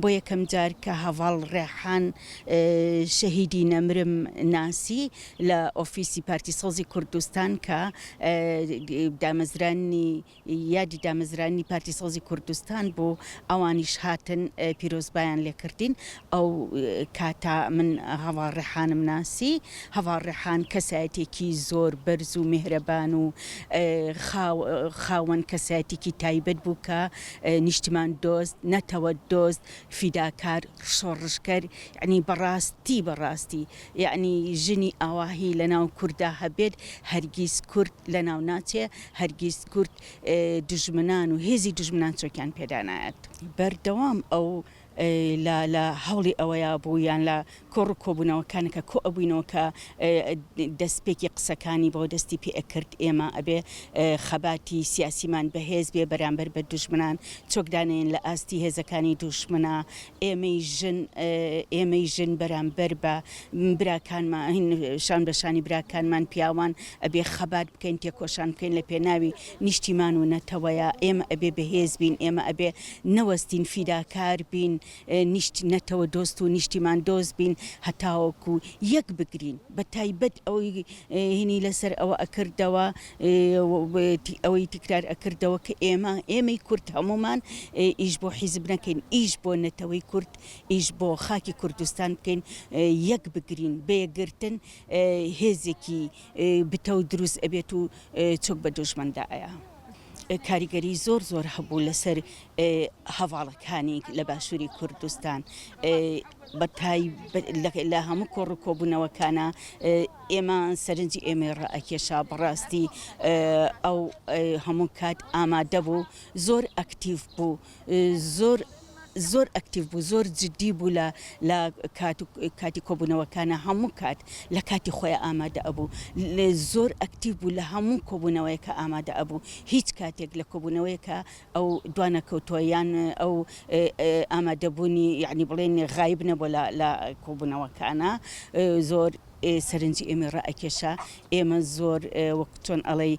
بۆ یەکەم جار کە هەڤاڵ ڕێحان شەهیدی نەمرم ناسی لە ئۆفیسی پارتی سەوزی کوردستان کە دامەزرانی یادی دامەزرانی پارتی سەوزی کوردستان بوو ئەوانیش هاتن پیرۆزبایان لێ کردین ئەو کاتە من هەڤاڵ ڕێحانم ناسی هەڤاڵ ڕێحان کەسایەتێکی زۆر بەرز و مێهرەبان و خاوەن کەسایەتێکی تایبەت بوو کە نیشتمان دۆست نەتەوە دۆست فیداکار شۆڕشگەر یەعنی بەڕاستی بەڕاستی یەعنی ژنی ئاواهی لەناو کوردا هەبێت هەرگیز کورد لەناو ناچێ هەرگیز کورد دوژمنان و هێزی دوژمنان چۆکیان پێدا نایەت. بەردەوام ئەو لە لە هەوڵی ئەوەیا بوو یان لە کۆڕ و کۆبوونەوەکان کە کۆ ئەبووینەوە کە دەست پێکی قسەکانی بۆ دەستی پێ ئەکرد ئێمە ئەبێ خەباتی سیاسیمان بەهێز بێ بەرامبەر بە دوژمنان چۆک دانێین لە ئاستی هێزەکانی دووشمنا ئێمەی ژن ئێمەی ژن بەرامبەر بە براکانمان شان بەشانی براکانمان پیاوان ئەبێ خەبات بکەین تێکۆشان بکەین لە پێناوی نیشتیمان و نەتەوەیە ئێمە ئەبێ بەهێز بین ئێمە ئەبێ نەوەستین فیداکار بین نیشت نەتەوە دۆست و نیشتیمان دۆست بین هەتاوەکو یەک بگرین بە تایبەت ئەوەی هینی لەسەر ئەوە ئەکردەوە ئەوەی تکرار ئەکردەوە کە ئێمە ئێمەی کورد هەموومان ئیش بۆ حیزب نەکەین ئیش بۆ نەتەوەی کورد ئیش بۆ خاکی کوردستان بکەین یەک بگرین بە یەکگرتن هێزێکی بتەو دروست ئەبێت و چۆک بە دوژمندا ئەیا. کاریگەری زۆر زۆر هەبوو لەسەر هەڤاڵەکانی لە باشووری کوردستان بەتای لە هەموو کۆڕ و کۆبوونەوەکانە ئێمە سەرنجی ئێمە ڕائکێشا بەڕاستی ئەو هەموو کات ئامادە بوو زۆر ئەکتیف بوو زۆر زۆر ئەکتیڤ بوو زۆر جدی بوو لە لە کات و کاتی کۆبوونەوەکانە هەموو کات لە کاتی خۆی ئامادە ئەبوو لێ زۆر ئەکتیڤ بوو لە هەموو کۆبوونەوەیەکە ئامادە ئەبوو هیچ کاتێک لە کۆبوونەوەیەکە ئەو دوانەکەوتووە یان ئەو ئامادەبوونی یعنی بڵێن غایب نەبوو لە لە کۆبوونەوەکانە زۆر سەرنجی ئێمە ڕائەکێشا ئێمە زۆر وەک چۆن ئەڵێی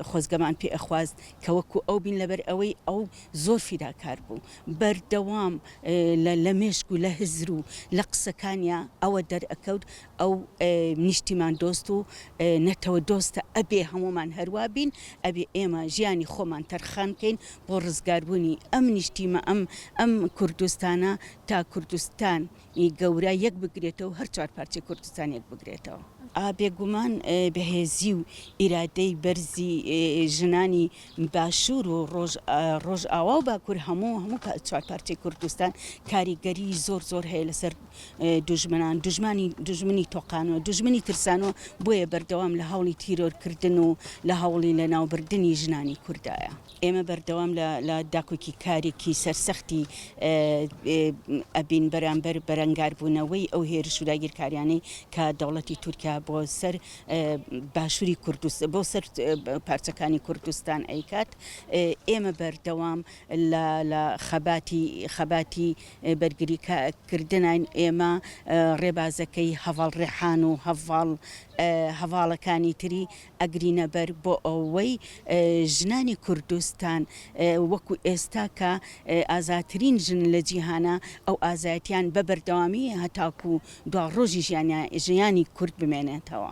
خۆزگەمان پێ ئەخواست کە وەکو ئەو بین لەبەر ئەوەی ئەو زۆر فیداکار بوو بەردەوام لە مێشک و لە هزر و لە قسەکانیا ئەوە دەرئەکەوت ئەو نیشتیمان دۆست و نەتەوە دۆستە ئەبێ هەموومان هەروا بین ئەبێ ئێمە ژیانی خۆمان تەرخان کەین بۆ ڕزگاربوونی ئەم نیشتیمە ئەم ئەم کوردستانە تا کوردستان ی گەورە یەک بگرێتەوە و هەر چوار پارچەی کوردستان یەک بگرێتەوە. ئا بێ گومان بەهێزی و ئیرادەی بەرزی ژنانی باشوور و ڕۆژ ڕۆژئاوا و باکوور هەموو هەموو چوار پارچەی کوردستان کاریگەری زۆر زۆر هەیە لەسەر دوژمنان دوژمانی دوژمنی تۆقانوە دوژمنی ترسانوە بۆیە بەردەوام لە هەوڵی تیرۆر کردن و لە هەوڵی لەناوبردنی ژنانی کوردایە. ئێمە بەردەوام لە داکۆکیکاریی سەرسەختی ئەبین بەرامبەر بەرەنگاربوونەوەی ئەو هێرش و داگیرکارییانەی کە دەوڵەتی تورکیا بۆ سەر باشووری کوردستان، بۆ سەر پارچەکانی کوردستان ئەیکات. ئێمە بەردەوام لە خەباتی خەباتی بەرگریکردنین. ئێمە ڕێبازەکەی هەڤاڵ ڕێحان و هەڤاڵ هەڤاڵەکانی تری ئەگرینە بەر بۆ ئەوەی ژنانی کوردستان وەکو ئێستا کە ئازاترین ژن لە جیهانە ئەو ئازایەتیان بە بەردەوامی هەتاکو دوا ڕۆژی ژیانی کورد بمێنێتەوە.